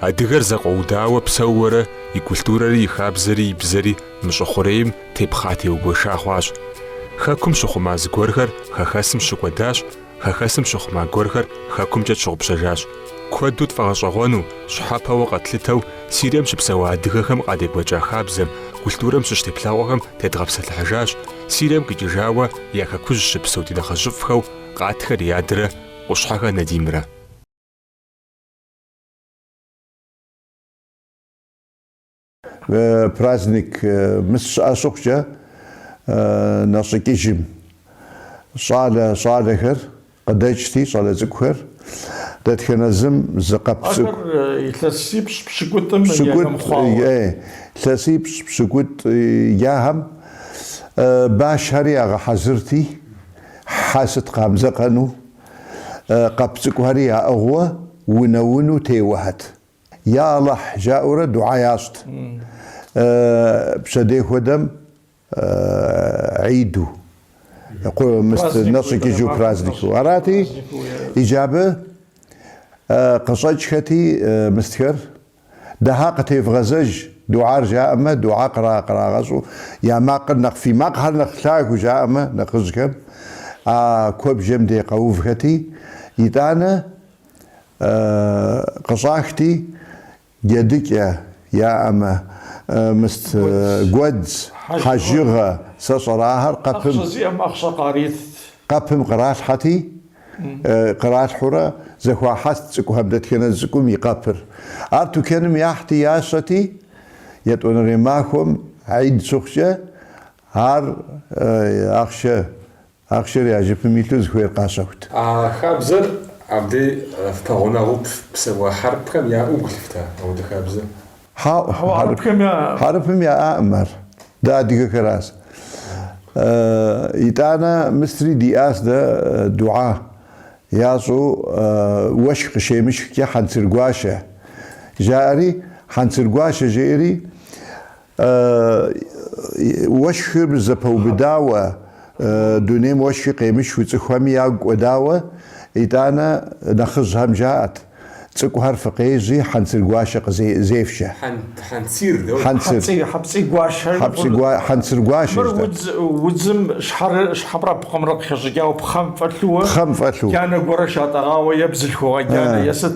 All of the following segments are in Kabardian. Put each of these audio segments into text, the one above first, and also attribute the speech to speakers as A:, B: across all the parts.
A: Адыгэр зэкъуэудауэ псэууэрэ и культурэри, и хабзэри, и бзэри мы щӏы хъурейм тепхъа-теугуэша хъуащ. Хэкум щыхъума зыгуэрхэр хэхэсым щыкӏуэдащ, Хэхэсым щыхъума гуэрхэр Хэкумкӏэ тщыгъупщэжащ. Куэду тфӏэгъэщӏэгъуэну, щхьэпэуэ къэтлъытэу Сирием щыпсэуа адыгэхэм къадекӏуэкӏа хабзэм, культурэм щыщ теплъэгъуэхэм тедгъэпсэлъыхьыжащ, Сирием къикӏыжауэ я Хэкужь щыпсэу ди нэхъыжьыфӏхэу Къатхэ Риадрэ Къущхьэхэ Надимрэ.
B: Праздник мыс щыӏэ щыхъукӏэ, нэщӏикӏыжым щӏалэ щӏалэхэр къыдэкӏти, щӏалэ цӏыкӏухэр, дэтхэнэ зым зы къэп
C: цӏыкӏу. Ахэр илъэсипщӏ пщыкӏутӏым ехэм хъуауэ.
B: Е, илъэсипщӏ пщыкӏутӏ ахэм башхэри ягъэхьэзырти, хьэ сыт къамыдзэкъэну, къэп цӏыкӏухэри яӏыгъыуэ унэ-уну теуэхьэт. Я Алыхь! жаӏэурэ дугьа ящӏт. Пщэдей хуэдэм гьиду, мыст нэщӏикӏыжу празднику арати, иджы абы къыщӏэкӏхэти мыстхэр, дугьа къытевгъэзэж, дугьар жаӏэмэ, дугьа кърагъэщӏу, я макъыр нэхъ, фи макъхэр нэхъ лъагэу жаӏэмэ нэхъыжьхэм, а куэбжэм де къэувхэти, итӏанэ Къыщӏахти, джэдыкӏэ яӏэмэ, мыст, гуэдз, хьэжыгъэ, сэ сщӏэрэ, ахэр къэпым. Ахъшэ зиӏэм ахъшэ къаритт. Къэпым къралъхьэти, къралъхьурэ зэхуахьэст цӏыкӏухэм дэтхэнэ цӏыкӏум и къэпыр. Ар тукэным яхьти ящэти, етӏуанэрей махуэм, Гьид щыхъукӏэ, ар ахъшэ Ахъшэр я жыпым илъу зыхуейр къащэхут. А
A: хабзэр абдей фпэгъунэгъуу псэуа хьэрыпхэм яӏэу гу лъыфта апхуэдэ хабзэр? Хьэӏу,
B: хьэрыпым яӏаӏым ар, дэ адыгэхэращ. Итӏанэ мыстри диӏащ дэ дугьа ящӏу уэшх къыщемышхкӏэ хьэнцыр гуащэ жаӏэри, хьэнцыр гуащэ жеӏэри Уэшхыр зэпэубыдауэ, дунейм уэшхи къемышхыу цӏыхухэми ягу кӏуэдауэ, итӏанэ нэхъыжьхэм жаӏэт, Цӏыкӏухэр фыкъежьи, хьэнцыр гуашэ къызефшэ. Хьэнцыр, дауэ? Хьэпцӏи гуашэ жыпӏэу. Хьэпцӏи, хьэнцыр гуашэ жытӏэ. Мыр
C: удзым щхьэпрапхъэмрэ къыхэщӏыкӏауэ пхъэм фӏэлъууэ. Пхъэм фӏэлъу. Джанэ гуэрэ шатӏэгъауэ е бзылъхугъэ джанэ, е сыт.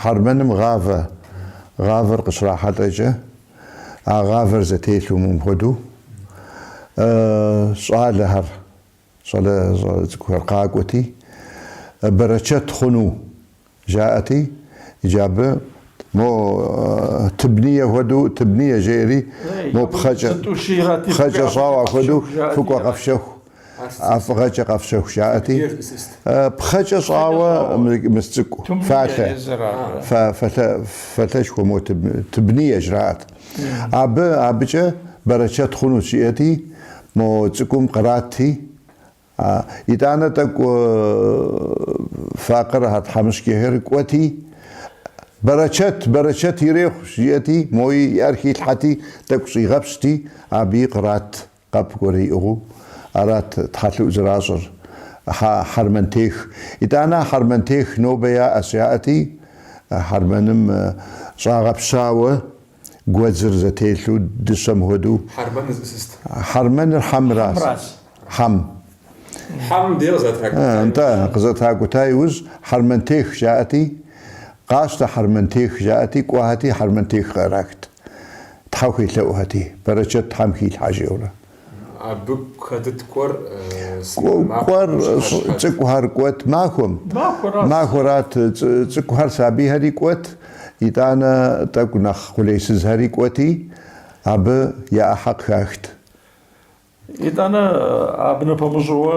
B: Хьэрмэным гъавэ. Гъавэр къыщрахьэлӏэкӏэ, а гъавэр зэтелъу мыпхуэдэу, щӏалэхэр, щӏалэ цӏыкӏухэр къакӏуэти, бэрэчэт хъуну Жаӏэти, иджы абы мо Тыбние хуэдэу, Тыбние жеӏэри, мо пхъэкӏэ, пхъэкӏэ щӏауэ ахуэдэу, фыкӏуэ къэфщэху, ӏэфӏыгъэкӏэ къэфщэху жаӏэти, пхъэкӏэ щӏауэ мыс цӏыкӏу, фалъэ, фалъэшхуэ мо Тыбние жраӏэт. Абы, абыкӏэ бэрэчэт хъунущ жиӏэти, мо цӏыкӏум кърати, Итӏанэ тӏэкӏу факъыр а тхьэмыщкӏэхэр кӏуэти, Бэрэчэт, бэрэчэт ирехъу, жиӏэти, мои и ӏэр хилъхьэти, тӏэкӏу щӏигъэпщти, абыи кърат къэп гуэрэ иӏыгъыу. Арат тхьэлъыӏу зэращӏыр. Хьэ, хьэрмэнтех. Итӏанэ а хьэрмэнтех нобэ яӏэщ жаӏэти, хьэрмэным щӏагъэпщауэ Гуэдзыр зэтелъу дыщэм хуэдэу. Хьэрмэныр зищӏыс? Хьэрмэныр хьэмращ. Хьэмращ. Хьэм. Хьэм дей къызэтракӏута иужь. Нтӏэ, къызэтракӏута иужь Хьэрмэнтех жаӏэти, къащтэ Хьэрмэнтех жаӏэти, кӏуэхэти Хьэрмэнтех къарахт. Тхьэ хуелъэӏухэти, бэрэчэт Тхьэм хилъхьэ жиӏэурэ.
A: Абы хэтыт кӏуэр сыт махуэм
B: щыхэщхэр? Цӏыкӏухэр кӏуэт махуэм. Махуэрат цӏыкӏухэр, сабийхэри кӏуэт, итӏанэ тӏэкӏу нэхъ къулейсызхэри кӏуэти, абы я ӏыхьэ къыхахт. Итӏанэ абы
C: нэпэмыщӏауэ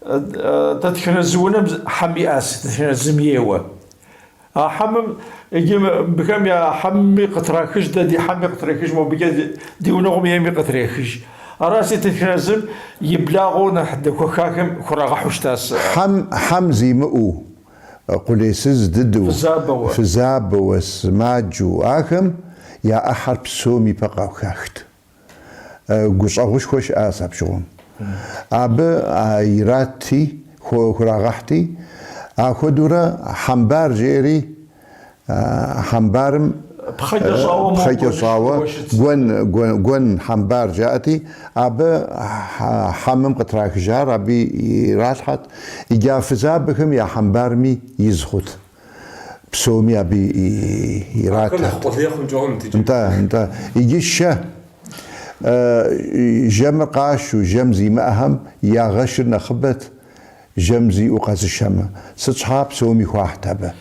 C: Дэтхэнэ зы унэм хьэм иӏэ, дэтхэнэ зым ейуэ. А хьэмым, иджы мыбыхэм я хьэмми къытрахыж, дэ ди хьэмми къытрахыж, мобыкӏэ ди гъунэгъум ейми къытрахыж. Аращи дэтхэнэ зым и благъэу нэхъ дэхуэхахэм хурагъэхьу щытащ. Хьэм,
B: хьэм зимыӏэу, къулейсыз дыдэу, фызабэуэ, сымаджэу ахэм я ӏыхьэр псом и пэ къахахт. гущӏэгъушхуэ щыӏащ апщыгъуэм. Абы а иратти, хурагъэхьти, ахуэдэурэ Хьэмбар жери, Хьэмбарым пхъэкӏэ щӏауэ Гуэн Хьэмбар жаӏэти, абы хьэмым къытрахыжар абы иралъхьэт, иджы а фызабэхэм я Хьэмбарми из хъут. псоми абы иратырт. Нтӏэ, нтӏэ. Иджы шэ, жэмыр къашу, жэм зимыӏэхэм я гъэшыр нэхъыбэт, жэм зиӏэу къэзышэмэ. Сыт щхьа, псоми хуахьт абы.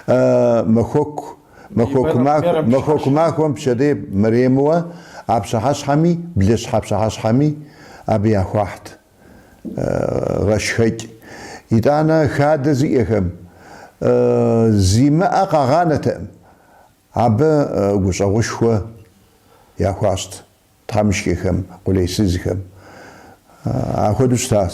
B: Махуэку, махуэку махуэм пщэдей мэремыуэ а пщыхьэщхьэми, блыщхьэ пщыхьэщхьэми абы яхуахьт. гъэшхэкӏ. Итӏанэ хадэ зиӏэхэм зимыӏэ къагъанэтэкъым, абы гущӏэгъушхуэ яхуащӏт тхьэмышкӏэхэм, къулейсызхэм. Ахуэдэу щытащ.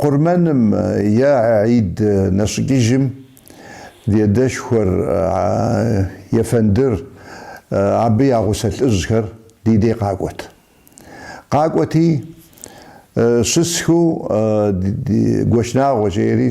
B: Къурмэным е Аид нэщӏыкӏыжым ди адэшхуэр Ефэндыр абы я гъусэ лӏыжьхэр ди дей къакӏуэт. Къакӏуэти, щысхыу Гуэщнагъуэ жери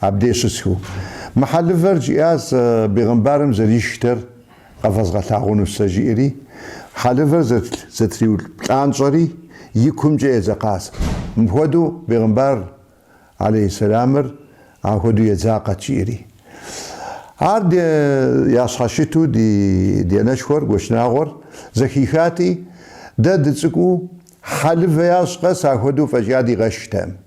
B: Абдей щысхыу, мы хьэлывэр жиӏащ бегъымбарым зэришхтэр къэвэзгъэлъагъуну сэ жиӏэри, хьэлывэр зэтриуплӏанщӏэри и кумкӏэ едзэкъащ. Мыхуэдэу бегъымбар алейхьисэлямыр ахуэдэу едзакъэт жиӏэри. Ар ди ящхьэщыту ди ди анэшхуэр, Гуэщнагъуэр, зэхихати, дэ дыцӏыкӏуу хьэлывэ ящӏ къэс ахуэдэу фӏэкӏа дигъэшхтэкъым.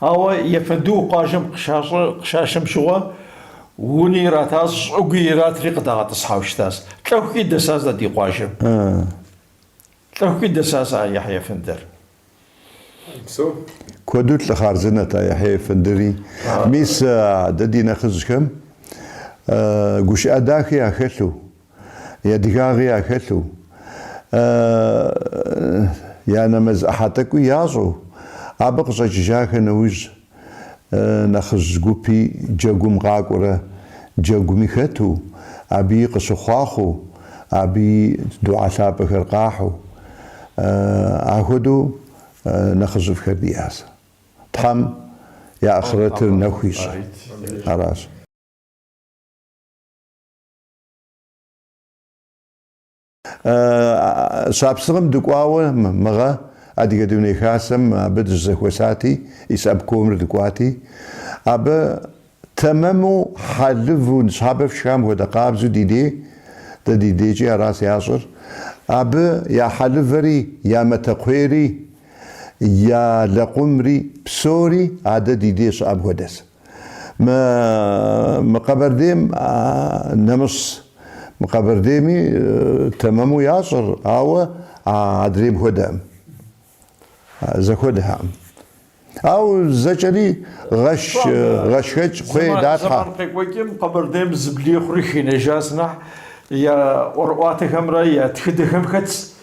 C: Ауэ Ефэндыу къуажэм къыщашэм щыгъуэ, уни иратащ, щӏыгуи иратри къыдагъэтӏысхьэу щытащ. Лӏэхукӏи дэсащ дэ ди къуажэм. Лӏэхукӏи дэсащ а Яхьи
B: Ефэндыр. Куэду лӏы хъарзынэт а Яхьи Ефэндыри. Мис дэ ди нэхъыжьхэм гушыӏэ дахи яхэлъу Адыгагъи яхэлъу, я нэмэз ӏыхьэ тӏэкӏуи ящӏу, абы къыщӏэкӏыжахэ нэужь, нэхъыжь гупи джэгум къакӏуэрэ джэгуми хэту, абыи къыщыхъуахъуэу, абыи духьэ лъапӏэхэр къахьу, ахуэдэу нэхъыжьыфӏхэр диӏащ. Тхьэм я ахърэтыр нэху ищӏэ. Аращ. Щапсыгъым дыкӏуауэ мыгъэ Адыгэ Дуней Хасэм абы дыщызэхуэсати, исполкомыр дыкӏуати, абы тэмэму хьэлыву ныщхьэбэ фшхам хуэдэ къабзу ди дей, дэ ди дейкӏи аращ ящӏыр, абы я хьэлывэри, я матэкхъуейри, я лэкъумри псори адэ ди дей щыӏэм хуэдэс. Мы мы Къэбэрдейм нэмыщӏ мы Къэбэрдейми тэмэму ящӏыр, ауэ а адрейм хуэдэӏым. Зэхуэдэххэӏым. Ауэ зэкӏэри гъэш гъэшхэкӏ кхъуей далъхьэ. Зэман къекӏуэкӏым Къэбэрдейм
C: зэблихъури хинэжас, нэхъ я ӏуэрыӏуатэхэмрэ я тхыдэхэм хэтс.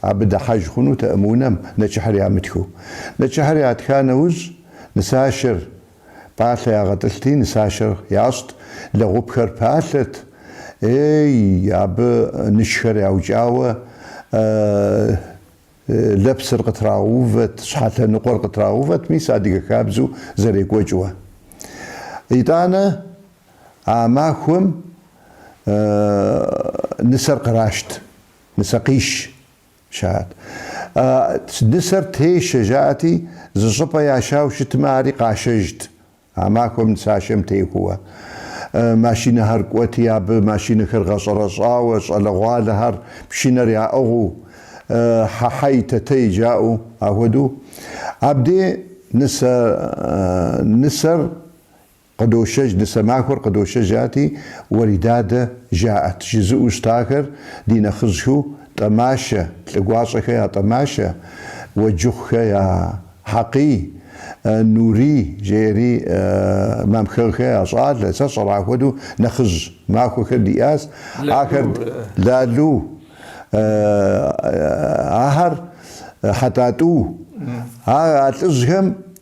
B: Абы дыхьэж хъунутэӏым унэм нэчыхьыр ямытхыу. Нэчыхьыр ятха нэужь, нысашэр пӏалъэ ягъэтӏылъти, нысашэр ящӏт, лэгъупхэр палъэт. Ей, абы нышхэр яукӏауэ, лэпсыр къытрагъэувэт, щхьэ лъэныкъуэр къытрагъэувэт, мис адыгэ хабзэу зэрекӏуэкӏыуэ. Итӏанэ а махуэм нысэр кърашт. Нысэкъиш щыӏат. А нысэр тешэ жаӏэти, зы щӏыпӏэ яшауэ щытмэ, ари къашэжт а махуэм нысашэм техуэуэ. Машинэхэр кӏуэти, абы машинэхэр гъэщӏэрэщӏауэ, щӏалэгъуалэхэр пшынэр яӏыгъыу, хьэ-хьэй, тэ-тэй жаӏэу ахуэдэу. Абдей нысэ нысэр Къыдошэж, нысэ махуэр къыдошэж жаӏэти, Уэридадэ, жаӏэт, жызыӏэу щытахэр, ди нэхъыжьхэу, Тӏэмашэ, Лӏыгуащӏэхэ я Тӏэмашэ, Уэджыхъухэ я Хьэкъий, Нурий, жеэри Мамхэгъхэ я щӏалэ, сэ сщӏэр ахуэдэу нэхъыжь махуэхэр диӏас, ахэр Лалу, ахэр Хьэтӏатӏу, а лӏыжьхэм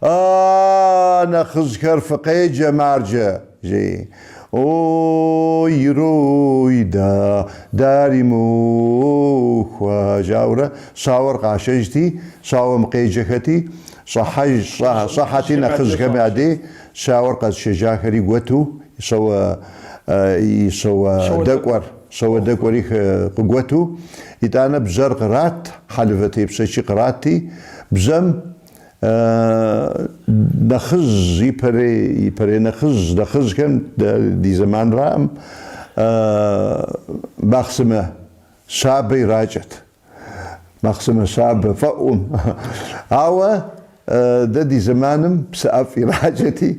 B: Аааа, нэхъыжьхэр фыкъеджэ марджэ, жи. Ой, рой, да, дари махуэ, жаӏэурэ щауэр къашэжти, щауэм къеджэхэти, щӏыхьэж, щӏэ, щӏыхьэти нэхъыжьхэм я дей, щауэр къэзшэжахэри гуэту, и щауэ, и щауэдэкӏуэр, щауэдэкӏуэри къыгуэту, итӏанэ бжьэр кърат, хьэлывэ тепщэчи къратти, бжьэм, нэхъыжь, ипэрей, ипэрей нэхъыжь, нэхъыжьхэм ди зэманраӏым махъсымэ щабэ иракӏэт. Махъсымэ щабэ фӏэӏум. Ауэ дэ ди зэманым псы ӏэфӏ иракӏэти,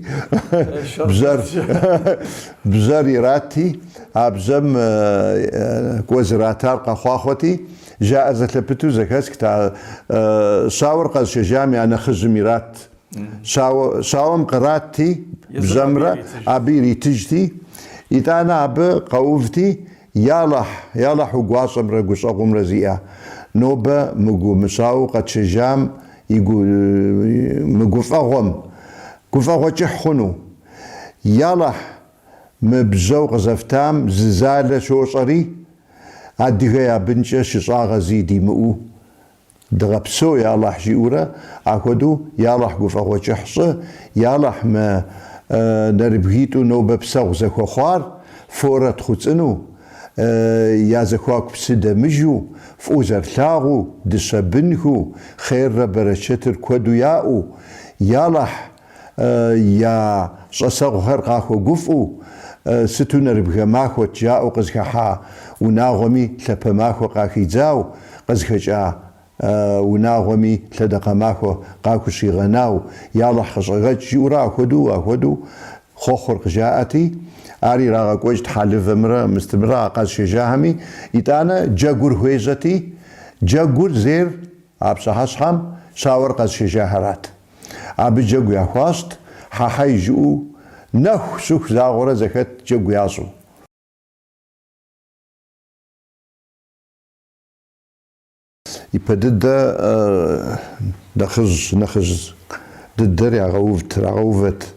B: бжьэр, бжьэр иратти, а бжьэм кӏуэ зратар къэхъуахъуэти, Жаӏэр зэлъэпыту зэхэсхэт а щауэр къэзшэжам я нэхъыжьым ират. Щауэм къратти, бжьэмрэ абы иритыжти, итӏанэ абы къэувти, Ялэхь, ялэхь уи гуащӏэмрэ гущӏэгъумрэ зиӏэ, нобэ мы гу, мы щауэ къэтшэжам и гу, мы гуфӏэгъуэм гуфӏэгъуэ кӏыхь хъуну? Ялэхь, мы бжьэу къызэфтам зы залэ щощӏэри, Адыгэ я бынкӏэ щыщӏагъэ зи димыӏэу дыгъэпсэу, я Алахь, жиӏэурэ, ахуэдэу я Алахь гуфӏэгъуэ кӏыхь щӏы, я Алахь мы нэрыбгитӏу нобэ псэгъу зэхуэхъуар форэ тхъуцӏынэу, я зэхуаку псы дэмыжу, фӏыуэ зэрылъагъуу, дыщэ бынхэу, хъеррэ бэрэчэтыр куэду яӏэу, я Алахь, я щӏасэгъухэр къахуэгуфӏэу, сыту нэрыбгэ махуэт жаӏэу къызыхыхьа унагъуэми лъапэ махуэ къахидзау, къызыхэкӏа унагъуэми лъэдакъэ махуэ къахущигъэнау, я Алыхь къыщӏэгъэкӏ, жиӏэурэ ахуэдэу, ахуэдэу хъуэхъур къыжаӏэти, ар ирагъэкӏуэкӏт хьэлывэмрэ мыстымрэ а къэзышэжахэми, итӏанэ джэгур хуежьэти, джэгур зейр а пщыхьэщхьэм щауэр къэзышэжахэрат. Абы джэгу яхуащӏт, хьэ-хьэй жыӏэу, нэху щыху загъуэрэ зэхэт джэгу ящӏу. Ипэ дыдэ нэхъыжь, нэхъыжь дыдэр ягъэувт, ирагъэувэт.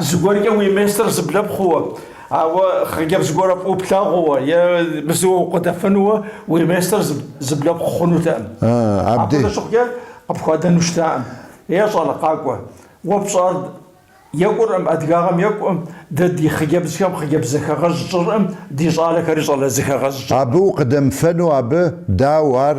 C: Зыгуэркӏэ уи местыр зыблэпхъууэ, ауэ хъыджэбз гуэрэ фӏыуэ плъагъууэ е абы зыуэ укъыдэфэнууэ уи местыр зыблэпхъу хъунутэкъым. Апхуэдэ щыхъукӏэ, къыпхуадэну щытакъым. Ей щӏалэ къакӏуэ, уэ пщӏар екӏуркъым, адыгагъэм екӏукъым, дэ ди хъыджэбзхэм хъыджэбз зэхэгъэж тщӏыркъым, ди щӏалэхэри щӏалэ зэхэгъэж. Абы укъыдэмыфэну
B: абы, дауэ, ар.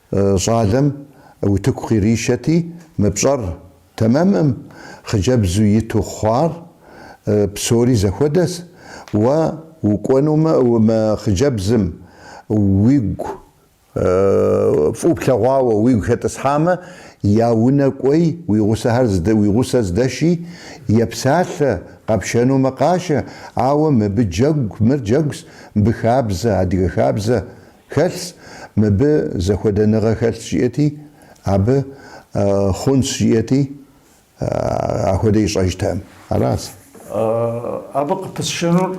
B: Щӏалэм утыку къиришэти, мы пщӏэр тэмэмкъым хъыджэбзу иту хъуар псори зэхуэдэщ, уэ укӏуэнумэ, мы хъыджэбзым уигу, фӏыуэ плъэгъуауэ уигу хэтӏысхьамэ, я унэ кӏуэи, уи гъусэхэр уи гъусэ здэши, епсалъэ, къэпшэнумэ къашэ, ауэ мыбы джэгу, мыр джэгущ, мыбы хабзэ, адыгэ хабзэ, Хэлъщ, мыбы зэхуэдэныгъэ хэлъщ жиӏэти, абы хъунщ жиӏэти, ахуэдэ ищӏэжтэкъым. Аращ.
C: Абы къыпысшынур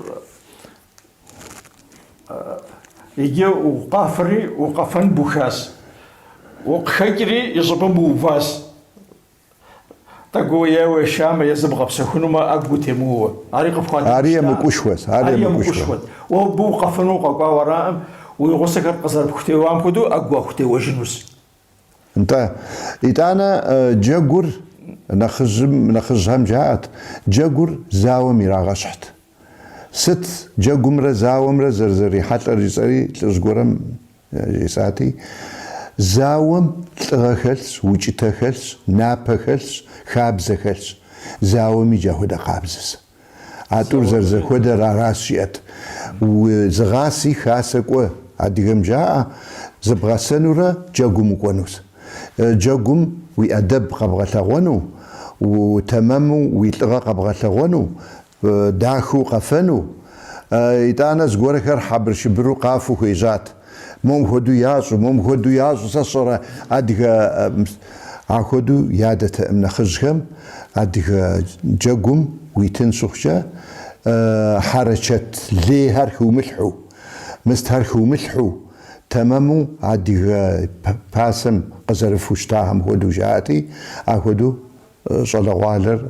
C: иджы укъафэри укъэфэн бухащ, укъыхэкӏри и щӏыбым ууващ, ӏэгу уеуэу уешамэ е зыбгъэпсэхунумэ ӏэгу утемыуэу. Ари къыпхуадэ Ари гущтаӏэм.
B: емыкӏушхуэщ, ар Ари емыкӏушхуэ. емыкӏушхуэт. Уэ абы укъэфэну
C: укъэкӏуауэ араӏым, уи гъусэхэр къызэрыпхутеуам хуэдэу ӏэгу уахутеуэжынущ.
B: Нтӏэ. Итӏанэ джэгур нэхъыжьхэм жаӏэт, джэгур зауэм ирагъэщхьт. Сыт джэгумрэ зауэмрэ зэрызэрихьэлӏэр жысӏэри лӏыжь гуэрэм жесӏати, зауэм лӏыгъэ хэлъщ, укӏытэ хэлъщ, напэ хэлъщ, хабзэ хэлъщ. Зауэми иджы ахуэдэ къабзэщ. А тӏур зэрызэхуэдэр аращ жиӏэт. Уэ зыгъаси, хасэ кӏуэ, адыгэм жаӏэ, зыбгъэсэнурэ джэгум укӏуэнущ. Джэгум уи ӏэдэб къэбгъэлъэгъуэну, утэмэму уи лӏыгъэ къэбгъэлъэгъуэну Дахэу къэфэну, итӏанэ зыгуэрхэр хьэбыршыбыру къафэу хуежьат. Мом хуэдэу ящӏу, мом хуэдэу ящӏу, сэ сщӏэрэ адыгэ... Ахуэдэу ядэтэкъым нэхъыжьхэм адыгэ джэгум уитын щыхъукӏэ, хьэрэчэт лейхэр хыумылъхьу, мыстхэр хыумылъхьу, тэмэму адыгэ пасэм къызэрыфу щытахэм хуэдэу жаӏэти, ахуэдэу щӏалэгъуалэр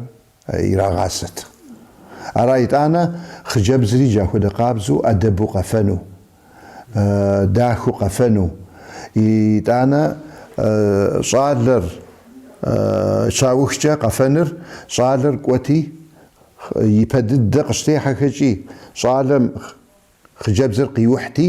B: ирагъасэт. Ара итӏанэ хъыджэбзри джа хуэдэ къабзэу ӏэдэбу къэфэну, дахэу къэфэну, итӏанэ щӏалэр щаухкӏэ къэфэныр, щӏалэр кӏуэти, ипэ дыдэ къыщытехьэхэкӏи, щӏалэм хъыджэбзыр къиухьти,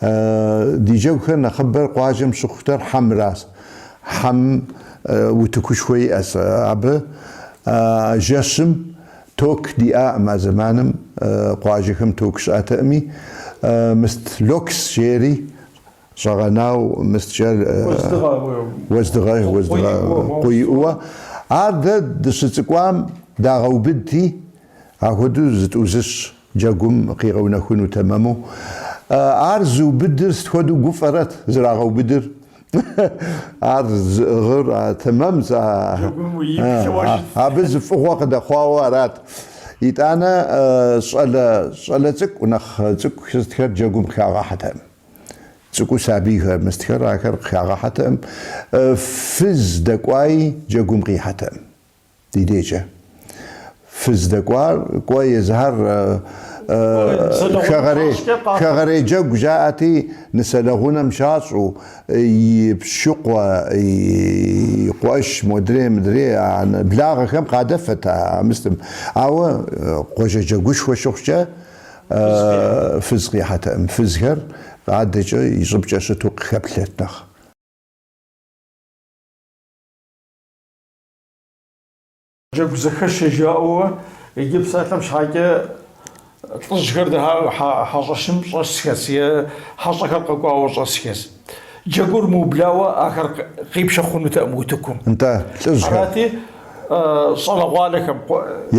B: Ди джэгухэр нэхъыбэр къуажэм щыхъутэр хьэмращ. Хьэм утыкушхуэ иӏэщ абы. Жэщым ток диӏаӏым а зэманым, къуажэхэм ток щыӏэтэкъыми. Мыст локс жери щӏэгъэнау мысткӏэр. Уэздыгъэ. Уэздыгъэ, къу иӏууэ. Ар дэ дыщыцӏыкӏуам дагъэубыдти, ахуэдэу зытӏузыщ. Джэгум къигъэунэхуну тэмэму. Ар зыубыдыр сыт хуэдэу гуфӏэрэт зрагъэубыдыр? Ар зыӏыгъыр тэмэм абы зы фӏыгъуэ къыдэхъуауэ арат. Итӏанэ щӏалэ щӏалэ цӏыкӏу нэхъ цӏыкӏухэ сытхэр джэгум къыхагъэхьэтэкъым. Цӏыкӏуу сабийхэ мыстхэр ахэр къыхагъэхьэтэкъым. Фыз дэкӏуаи джэгум къихьэтэкъым. Ди дежкӏэ фыз дэкӏуар кӏуэ езыхэр хэгъэрей джэгу жаӏэти, нысэлэгъунэм щащӏу, и пщыкъуэ, и къуэш, модрей, мыдрей, анэ, благъэхэм къадэфэт а мыстым. Ауэ къуажэ джэгушхуэ щыхъукӏэ, фыз къихьэтэкъым. Фызхэр адэкӏэ и щӏыбкӏэ щыту къыхэплъэт нэхъ.
C: Джэгу зэхэшэ жаӏэуэ иджы псалъэм щхьэкӏэ лӏыжьхэр хьэщӏэщым щӏэсхэс е хьэщӏэхэр къэкӏуауэ щӏэсхэс. Джэгур мыублауэ ахэр къипшэ хъунутэкъым утыкум. Нтӏэ,
B: лӏыжьхэр.
C: Арати, щӏалэгъуалэхэм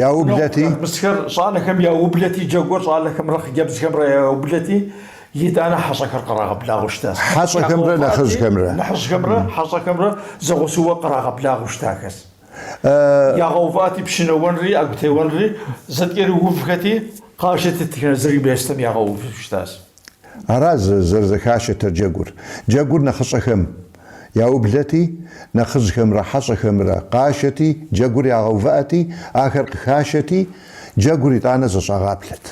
C: яублэти,
B: мысхэр, щӏалэхэм
C: яублэти, джэгур щӏалэхэмрэ хъыджэбзхэмрэ яублэти, Итӏанэ хьэщӏэхэр къырагъэблагъэу щытащ.
B: Хьэщӏэхэмрэ нэхъыжьхэмрэ.
C: Нэхъыжьхэмрэ хьэщӏэхэмрэ зэгъусэуэ къырагъэблагъэу щытахэс. Ягъэувыӏэти, пщынэуэнри ӏэгутеуэнри зэткӏэрыувхэти, къащытытхэ зыр местом ягъэувыу щытащ. Арас
B: зэрызэхашэтэр джэгур. Джэгур нэхъыщӏэхэм яублэти, нэхъыжьхэмрэ хьэщӏэхэмрэ къашэти, джэгур ягъэувыӏэти, ахэр къыхашэти, джэгур итӏанэ зэщӏагъэплъэт.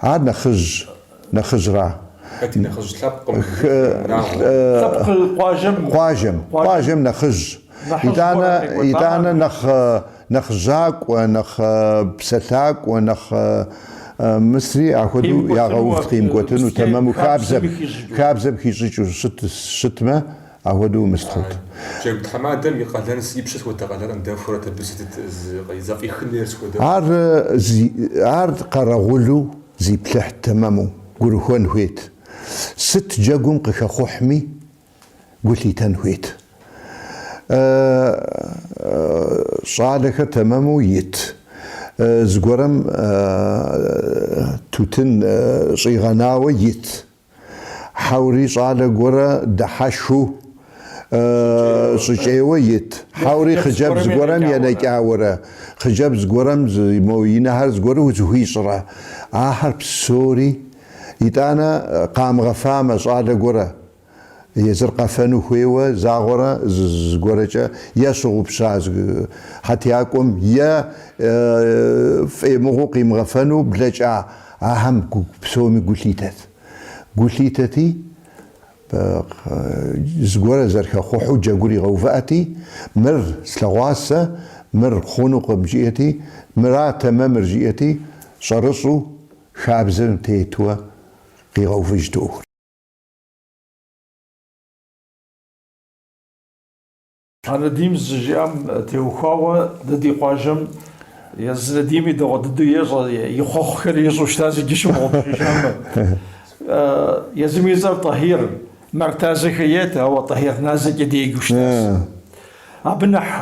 B: Ар нэхъыжь, нэхъыжьра? Хэт и нэхъыжь?
A: Лъэпкъым, лъэпкъым,
B: унагъуэм? Лъэпкъ, къуажэм. Къуажэм, къуажэм нэхъыжь.
C: Итӏанэ,
B: итӏанэ нэхъ, нэхъ жьакӏуэ, нэхъ псэлъакӏуэ, нэхъ мысри ахуэдэу ягъэувт къимыкӏуэтыну, тэмэму хабзэм, хабзэм хищӏыкӏыу щыт, щытмэ. Ахуэдэу мыст хъут. Джэгу
A: тхьэмадэм и къалэн и пщэ схуэдэ къалэн къыдэхуэрэт абы сытыт зэфӏихын
B: хуейр схуэдэ. Ар зи ар къэрэгъулу зиплъыхьт тэмэму гурыхуэн хуейт. Сыт джэгум къыхэхъухьми гу лъитэн хуейт. Э щӏалэхэр тэмэму ит. Зыгуэрэм тутын щӏигъэнауэ ит Хьэури щӏалэ гуэрэ дыхьэшхыу щӏыкӏейуэ ит. Хьэури хъыджэбз гуэрэм енэкӏауэрэ, хъыджэбз гуэрэм мо и нэхэр зыгуэру зыхуищӏрэ? Ахэр псори, итӏанэ, къамыгъэфамэ, щӏалэ гуэрэ езыр къэфэну хуейуэ загъуэрэ зыгуэрэкӏэ е щыгъупща хьэтякӏуэм, е фӏемыгъуу къимыгъэфэну блэкӏа Ахэм псоми гу лъитэт. Гу лъитэти, зыгуэрыр зэрыхэхъухьу джэгур игъэувыӏэти, Мыр слъэгъуащ сэ, мыр хъунукъым, жиӏэти, Мырат тэмэмыр, жиӏэти, щӏэрыщӏу хабзэм тетуэ къигъэувыжт ӏуэхур.
C: А Надим зыжиӏам теухуауэ дэ ди къуажэм езы Надими дэгъуэ дыдэу ещӏэ, и хъуэхъухэр ищӏу щытащ, иджы щымыгъупщэжамэ. Езым и цӏэр Тӏэхьир, Мартазэхэ ет, ауэ Тӏэхьир Назэкӏэ деджэу щытащ. Абы нэхъ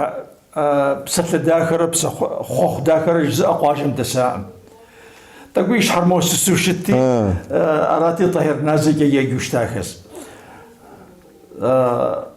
C: псалъэ дахэрэ псэ хъуэхъу дахэрэ жызыӏэ къуажэм дэсакъым. Тӏэкӏу и щхьэр моуэ сысу щытти, арати Тӏэхьир Назэкӏэ еджэу щытахэс.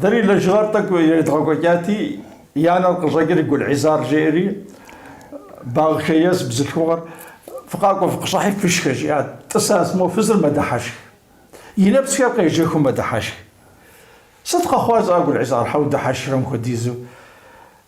C: Дэри лэжьыгъэр тӏэкӏу едгъэкӏуэкӏати, и анэр къыщӏэкӏри Гулӏизар жеӏэри, Багъхэ ес бзылъхугъэр, фыкъакӏуэ фыкъыщӏыхьи фышхэ, жиӏат. Тӏысащ, мо фызыр мэдыхьэшх. И нэпсхэр къежэхыу мэдыхьэшх. Сыт къэхъуар зыӏа Гулӏизар щхьэ удыхьэшхрэ мыхуэдизу?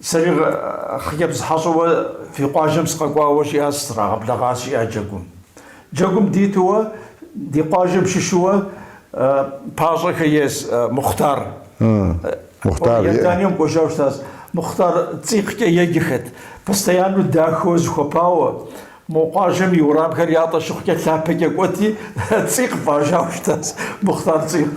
C: Сэри хъыджэбз хьэщӏэуэ фи къуажэм сыкъэкӏуауэ жиӏащ, срагъэблэгъащ, жиӏа джэгум. Джэгум дитуэ ди къуажэм щыщууэ Пащӏэхэ ес Мухътар. Мухътар. Иорданием кӏуэжауэ щытащ. Мухътар цӏикъкӏэ еджэхэт, постояннэу дахэуэ зыхуэпауэ. Мо къуажэм и уэрамхэр ятӏэ щыхъукӏэ лъапэкӏэ кӏуэти, цӏикъ фӏащауэ щытащ, Мухътар цӏикъ.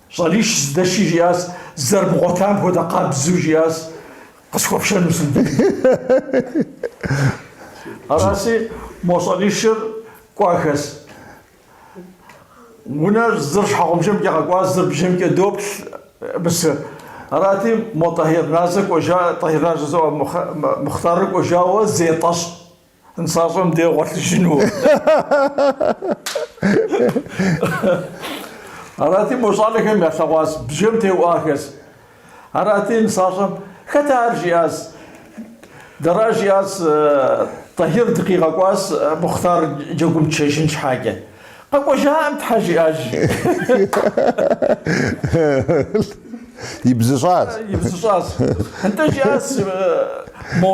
C: Щӏалищ здэши жиӏащ, зэрыбгъуэтам хуэдэ къабзу жиӏащ, Къысхуэпшэну сындэкӏ. Аращи, мо щӏалищыр кӏуахэщ. Унэр зыр щхьэгъубжэмкӏэ къэкӏуащ, зыр бжэмкӏэ доплъ Мысы. Арати, мо Тӏэхьир Назэ кӏуэжа, Тӏэхьир Назэ зоӏэ Мухътарыр кӏуэжауэ зетӏэщӏ. Нысащӏэм дэгъуэлъыжыну. Арати, мо щӏалэхэм ялъэгъуащ бжэм теуӏуахэс. Арати, нысащӏэм хэт ар жиӏащ. Дэращ жиӏащ Тӏэхьир дыкъигъэкӏуащ Мухътар джэгум тшэжын щхьэкӏэ. Къэкӏуэжаӏэм Тхьэ жиӏащ.
B: Ибзыщӏащ. Ибзыщӏащ. Нтӏэ жиӏащ
C: мо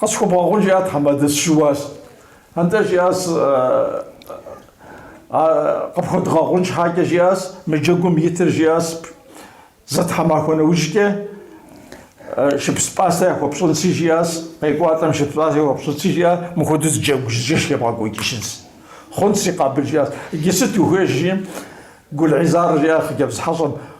C: Къысхуэбгъэгъун, жиӏат Хьэмадэ, сыщыуащ. Атӏэ, жиӏащ, къыпхуэдгъэгъун щхьакӏэ, жиӏащ, мы джэгум итыр, жиӏащ, зы тхьэмахуэ нэужькӏэ шыпс пӏастэ яхуэпщӏынщи, жиӏащ, къекӏуалӏэм шыпс пӏастэ яхуэпщӏынщи, жиӏащ, мыхуэдэу зы джэгу ебгъэкӏуэкӏыжынщ. Хъунщ, си къабыл, жиӏащ. Иджы сыт ухуей? жи, Гулӏизар жиӏащ хъыджэбз хьэщӏэм.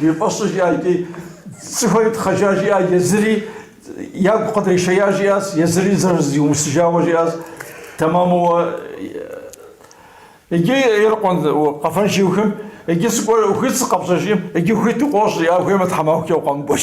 C: И фӏэщу жиӏа икӏи цӏыхухэри тхъэжа жиӏа, езыри ягу къыдришея жиӏащ, езыри зэрызиумысыжауэ жиӏащ. Тэмэму иджы ирикъун къэфэн щиухым, иджы сыкӏуэну хуит сыкъэпщӏыжым, иджы ухуит укъощ жиӏа хуеймэ тхьэмахукӏэ укъэмыкӏуэж.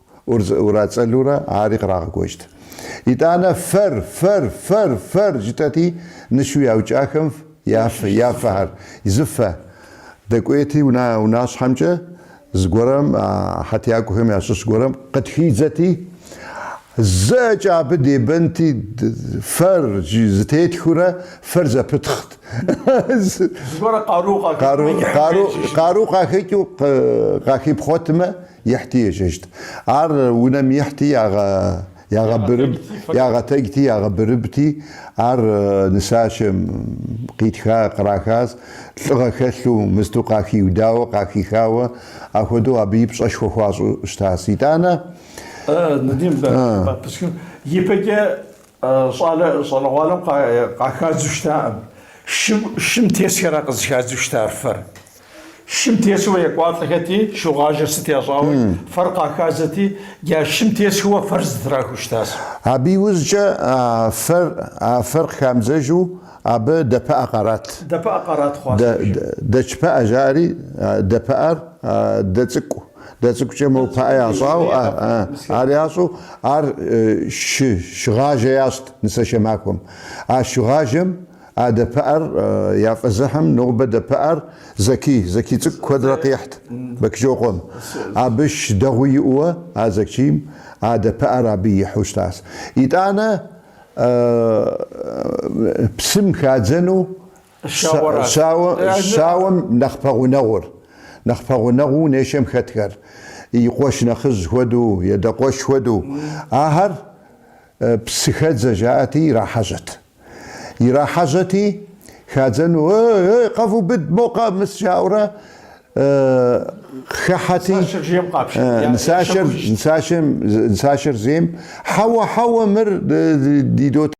B: Ирацӏэлурэ ари кърагъэкӏуэкӏт. Итӏанэ фэр, фэр, фэр, фэр жытӏэти, нышу яукӏахэм я фэ, я фэхэр, зы фэ. Дэкӏуейти унащхьэмкӏэ, зыгуэрым, а хьэтиякӏуэхэм ящыщ гуэрым къытхидзэти, зэкӏэ абы дебэнти, фэр зытетхыурэ фэр зэпытхът.
C: Зыгуэр
B: къару къахыкӏыу къахипхъуэтмэ, Ихьти ежьэжьт. Ар унэм ихьти, ягъэбырыб, ягъэтэджти, ягъэбырыбти, ар нысашэм къитха, кърахащ, лӏыгъэ хэлъу, мысту къахиудауэ, къахихауэ, ахуэдэу абы и пщӏэшхуэ хуащӏу щытащ. Итӏанэ.
C: Ипэкӏэ Щӏалэ щӏалэгъуалэм къахадзу щытакъым. Шым, шым тесхэра къызыхадзу щытар фэр. Шым тесуэ екӏуалӏэхэти, шыгъажэ сыт ящӏауэ, фэр къахадзэти, я шым тесхэуэ фэр зытрахыу щытащ. Абы
B: иужькӏэ а фэр, а фэр къыхамыдзэжу абы дэпыӏэ къарат. Дэпыӏэ къарат хъуащ.
C: Дэ, дэ, дэчпыӏэ
B: жаӏэри, дэпыӏэр, дэ цӏыкӏу. Дэ цӏыкӏукӏэ мо пыӏэ ящӏауэ, ар ящӏу ар шы шыгъажэ ящӏт нысэшэ махуэм. А шыгъажэм а дэпыӏэр яфӏэзыхьым нобэ дэпыӏэр Зэки, Зэки цӏыкӏу куэдрэ къихьт Бэкчокъуэм. Абы шы дэгъуи иӏэуэ а Зэкийм а дэпыӏэр абы ихьу щытащ. Итӏанэ псым хадзэну Щауэм нэхъ пэгъунэгъур, нэхъ пэгъунэгъуу унэишэм хэтхэр, и къуэш нэхъыжь хуэдэу е адэ къуэш хуэдэу, ахэр псыхэдзэ жаӏэти, ирахьэжьэт. Ирахьэжьэти, хадзэну, Эй-эй, къэвубыд, мо къэмыс, жаӏэурэ хыхьэти, нысашэр зейм, Хьэуэ, хьэуэ, мыр ди дот.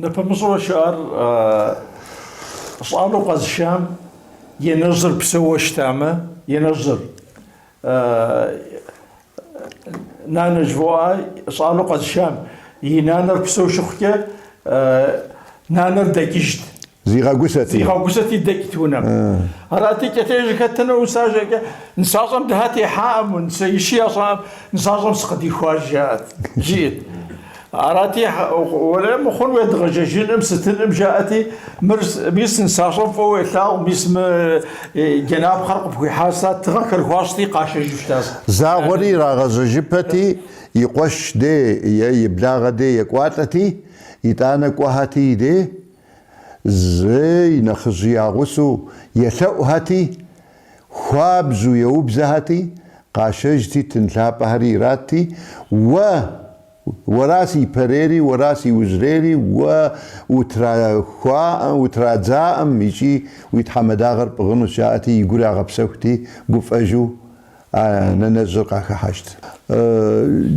C: Нэпэмыщӏурэ щыӏар щӏалэу къэзышам и анэжьыр псэууэ щытамэ, и анэжьыр нанэ жывоӏэ щӏалэу къэзышам и нанэр псэу щыхъукӏэ нанэр дэкӏыжт.
B: Зигъэгусэти. Зигъэгусэти дэкӏт
C: унэм. Арати, кӏэтежи хэтыну усажэкӏэ, нысащӏэм дыхьэ техьаӏым, унэиши ящӏаӏым, нысащӏэм сыкъыдихуа жаӏэт, жиӏэт. Арати, уэлэ мыхъун уедгъэжьэжыным, сытыным жаӏэти, мыр, мис нысащӏэм фӏыуэ уелъагъу, мис мы джэнапхъэр къыпхуихьар сыта, тыгъэхэр хуащӏти, къашэжу щытащ.
B: Загъуэри ирагъэжьэжыпэти, и къуэш де е и благъэ де екӏуалӏэти, итӏанэ кӏуэхэти, де Зы нэхъыжьи ягъусэу елъэӏухэти, хуабжьу еубзэхэти, къашэжти, тын лъапӏэхэри иратти, Уэ, уэращ ипэрейри, уэращ иужьрейри, уэ утрахуаӏэм, утрадзаӏэм икӏи уи тхьэмадагъэр пӏыгъынущ, жаӏэти, и гур ягъэпсэхути, гуфӏэжу, А нэнэжьыр къахыхьэжт.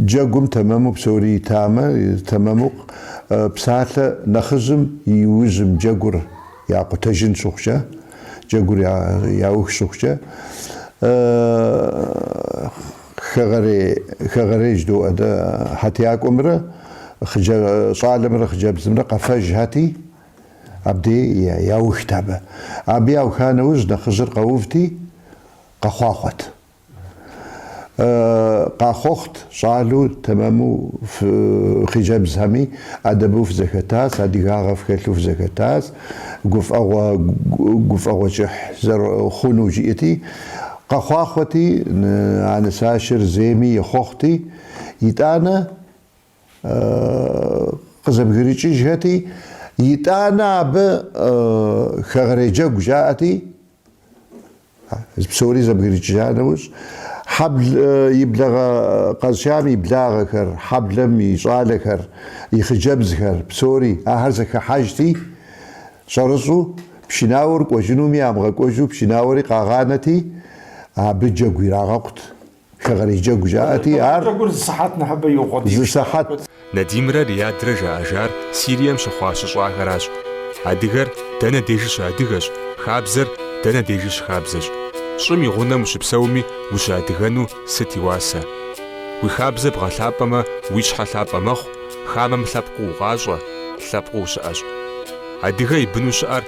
B: Джэгум тэмэму псори итамэ, тэмэму псалъэ нэхъыжьым и ужьым джэгур якъутэжын щыхъукӏэ, джэгур яух щыхъукӏэ, хэгъэрей, хэгъэрей жыдоӏэ дэ, хьэтиякӏуэмрэ щӏалэмрэ хъыджэбзымрэ къэфэжхэти, абдей яухт абы. Абы яуха нэужь нэхъыжьыр къэувти, Къэхъуахъуэт. Къахъуэхъут щӏалэу, тэмэму фи хъыджэбзхэми, ӏэдэбу фызэхэтащ, адыгагъэ фхэлъу фызэхэтащ, гуфӏэгъуэ гуфӏэгъуэ кӏыхь зэрыхъуну жиӏэти, къэхъуахъуэти, а нысашэр зейми ехъуэхъути, итӏанэ къызэбгрыкӏыжхэти, итӏанэ абы хэгъэрей джэгу жаӏэти, Псори зэбгрыкӏыжа нэужь, хьэбл и благъэ къэзшам и благъэхэр, хьэблэм и щӏалэхэр, и хъыджэбзхэр, псори, ахэр зэхыхьэжти, щӏэрыщӏу пшынауэр кӏуэжынуми амыгъэкӏуэжу пшынауэри къагъанэти, абы джэгу ирагъэкъут. Хэгъэрей джэгу жаӏэти, ар. Хэгъэрей джэгур зы
C: сыхьэт нэхъыбэ иукъуэдийт. Зы
B: сыхьэт.
A: Надимрэ Риадрэ жаӏэжар Сирием щыхъуа щыщӏахэращ. Адыгэр дэнэ дежи щыадыгэщ, хабзэр дэнэ дежи щыхабзэщ. Щӏым и гъунэм ущыпсэуми ущыадыгэну сыт и уасэ? Уи хабзэ бгъэлъапӏэмэ, уи щхьэ лъапӏэ мэхъу, хамэм лъэпкъыу укъащӏэ, лъэпкъыу ущыӏэщ. Адыгэ и быну щыӏэр